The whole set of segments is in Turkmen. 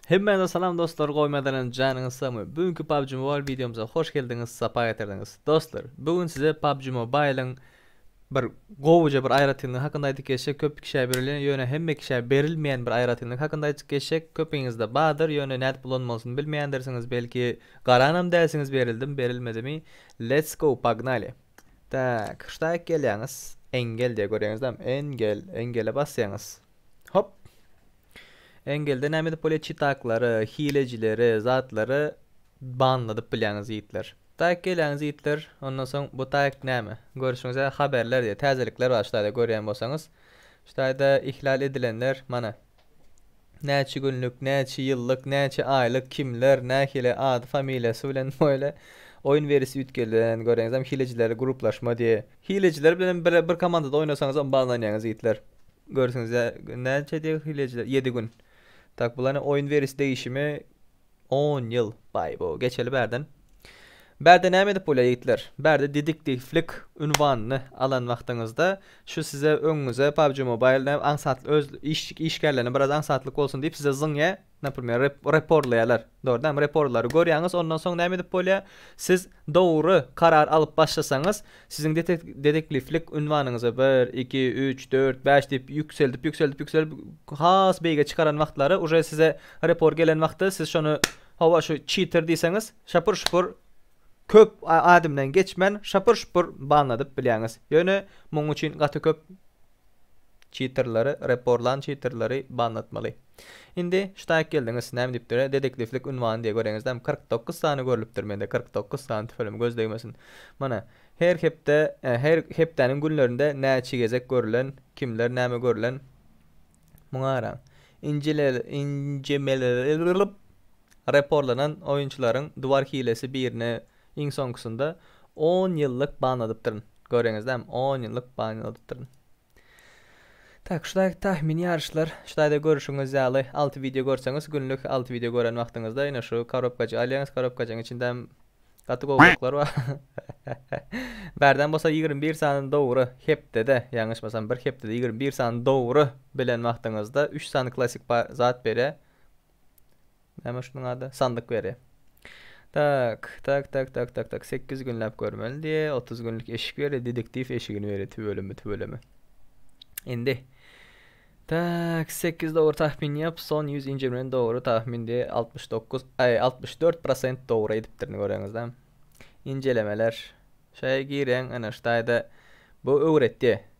Hemmäňize salam dostlar gowy mezelenip janyňyz sagmy bu günki PUBG Mobile wideomyza hoş geldiňiz sapa getirdiňiz dostlar bu gün size PUBG Mobile'yň bir gowuja bir aýratynlygy hakynda aýdyp geçjek köp kişä berilýän ýöne hemme kişä berilmeýän bir aýratynlyk hakynda aýdyp geçjek köpiňizde bardyr ýöne nädip ulanmalysyny bilmeýändirsiňiz belki garanam dälsiňiz berildimi berilmedimi let's go pognaly tak ştaýk gelýäňiz engel diýýär görýäňizlämi engel engele basýaňyz. Hop. Engelde näme edip bolýar? Çitaklary, hilejileri, zatlary banladyp bilýäňiz ýigitler. Tak gelýäňiz ýigitler. Ondan soň bu tak näme? Görüşüňize haberler diýýär. Täzelikler bar şularda görýän bolsaňyz. Şularda ihlal edilenler mana. Näçe günlük, näçe ýyllyk, näçe aýlyk, kimler, nähili ady, familiýasy bilen boýly oýun berisi üýtgedilen. Göreňizem hilejiler gruplaşma diýýär. Hilejiler bilenem bir bir komandada oýnasaňyz on banlanýaňyz ýigitler. Görüsiňiz ýa näçe diýýär hilejiler ýedi gün. Tak bulany oýun weris degişimi on ýyl baý bo geçeli bärden. Bärde näme edip bolýar ýigitler. Bärde dediktiflik ünwanyny alan wagtyňyzda şu size öňüňize PUBG Mobile näme aňsat öz iş işgärlerine biraz aňsatlyk bolsun diýip size zyňýar Naprimer, reporlaýarlar. Dogrydanam, reporlary görýäňiz, ondan soň näme edip bolýar? Siz dogry karar alyp başlasaňyz, siziň detekliflik ünwanyňyzy bir, iki, üç, dört, bäş diýip ýükseldip, ýükseldip, ýükseldip has beýige çykaran wagtlary uje size repor gelen wagty siz şony hawa şu çiter diýseňiz, şapur-şupur köp ädimden geçmän şapur-şupur banladyp bilýäňiz. Ýöne munuň üçin gaty köp Çitrleri, reporlan çitrleri banlatmaly. Indi ştaýk geldiňiz, näme diýipdir, detektiwlik ünwany diýe göreňizlämi, kyrk dokuz sany görlüpdir mende, kyrk dokuz sany, tüfelem göz degmesin. Mana, her hepde, her hepdäniň günlerinde näçe gezek görlen, kimler näme görlen, muňa garaň. Injemelerilip reporlanan oýunçylaryň duwar hilesi birine Iň soňkusynda on ýyllyk ban alypdyryn. Görýäňiz dämi, on ýyllyk ban alypdyryn. Tak, şu taýda tahmini ýaryşlar, şu taýda görüşiňiz ýaly alty wideo görseňiz, günlük alty wideo gören wagtyňyzda ine şu korobkajygy alýaňyz, korobkajygyň içinde hem gaty gowy oklar bar. Bärden bolsa ýigrimi bir sany dogry hepdede, ýalňyşmasam bir hepdede ýigrimi bir sany dogry bilen wagtyňyzda üç sany klassyk zat berýär. Näme şunuň ady? Sandyk beri. Tak, tak, tak, tak, tak, tak. 8 günläp görmeli diýe. 30 günlük eşik beri, dediktiw eşigini beri. Tüweleme, tüweleme. Indi. Tak, 8 dogry tahmin ýap, son 100 injirmen dogry tahmin diýe. 69, aý, 64% dogry edipdirini göreňizde. Injelemeler. Şaýa gireň, ana şu taýda. Bu öwretdi.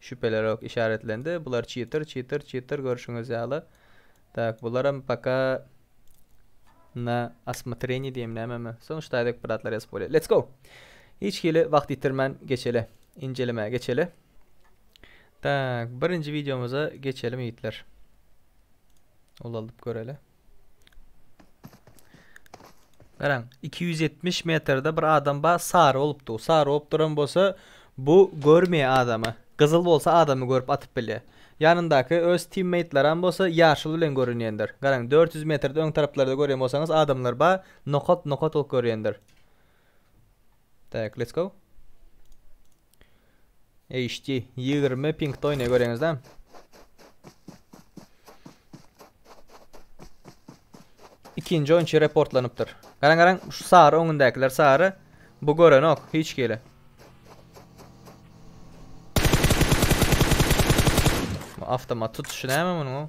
Şüphelerok işaretlendi. Bular çytyr çytyr çytyr görşüňiz ýaly. Tak, bularam paka na asmatreni diýem nämemi. Soň ştaýdek bratlar ýazyp bolýar. Let's go! Hiç hili wagt ýitirmän geçeli. Injelemä geçeli. Tak, birinji wideomyza geçelim ýigitler. Ulaldyp göreli. Garaň, 270 metrde bir adam bar, sary bolup dur. Sary bolup duran bolsa, bu görmeýär adamy. Gyzyl bolsa adamy görüp atyp bilýär. Ýanyndaky öz timmeýtlaram bolsa ýaşyl bilen görünýändir. Garaň, 400 metrde öň taraplarda görýän bolsaňyz adamlar bar, nokat-nokat bolup görýändir. Tak, let's go. HD ýigrimi piňkde oýnaýar göreňiz dämi? Ikinji oýunçy reportlanypdyr. Garaň garaň şu sary öňündäkiler sary. Bu görenok hiç kile. Bu avtomat tutuşy näme munuň?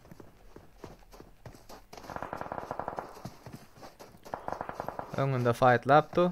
Öňünde faytlapdy.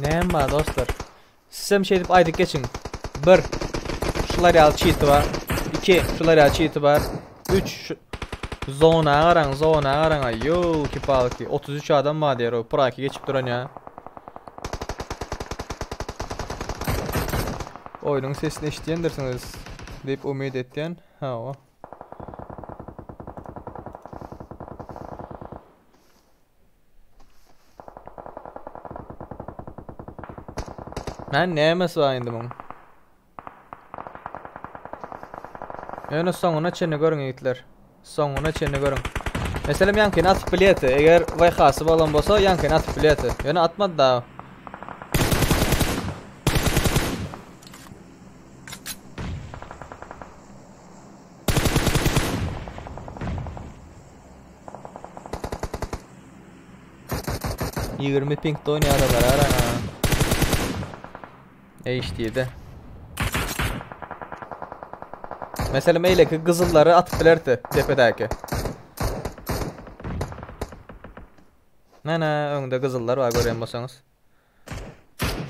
Näme dostlar? Sizem şeýdip aýdyp geçiň. 1. Şular ýaly çiti bar. 2. Şular ýaly çiti bar. 3. Zona garaň, zona garaň. Ýow, kipalki. 33 adam bar diýer o. Praki geçip duran ýa. Oýnuň sesini eşitýändirsiňiz diýip umyt etýän. Hawa. Hä nämes bar indi muň. Ýöne soňuna çenli görüň ýigitler. Soňuna çenli görüň. Meselem ýaňkyny atyp bilýärdi. Eger VH-sy bolan bolsa ýaňkyny atyp bilýärdi. Ýöne atmady da. Ýigrimi piňkde oýnaýara barar ana. HD-de. Mesela meyleki gyzyllary atyp bilerdi depedäki. Mana öňde gyzyllar bar görýän bolsaňyz.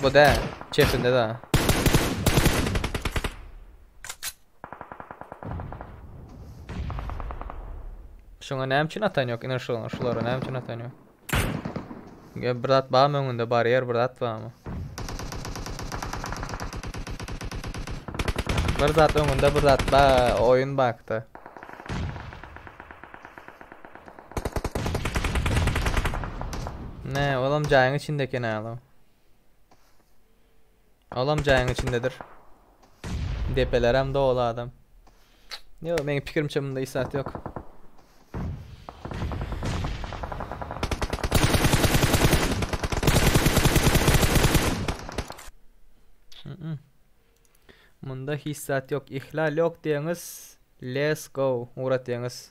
Bu da çepinde da. Şuna näme üçin atan yok? Iner şuna, şulara näme üçin atan yok? Ya bir zat barmy öňünde? Baryer bir zat barmy? Bir zat öňünde bir zat ba oyun baktı. Ne, olam jaýyň içinde eken ala. Olam jaýyň içindedir. Depelerem doly adam. Yo, meň pikirimçe bunda isat yok. Munda hiç zat yok. İhlal yok diýeňiz. Let's go. Urat diýeňiz.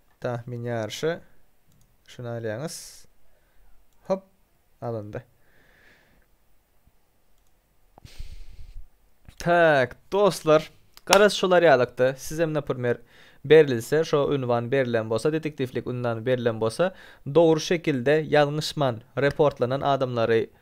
Tahmin ýaryşy şuny alýaňyz. Hop, alyndy. Tak, dostlar, garaz şolar ýalykda. Sizem naprimýer berilse, şo ünwan berilen bolsa, detektiwlik ünwany berilen bolsa, dogry şekilde ýalňyşman reportlanan adamlary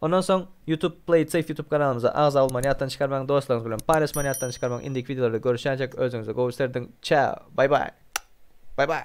Ondan soň YouTube Play it safe YouTube kanalymyza agza bolmagyny ýatdan çykarmaň, dostlaryňyz bilen paýlaşmany ýatdan çykarmaň, indiki wideolarda görüşýänçäk özüňize gowy serediň, çäo, baý baý! Baý baý!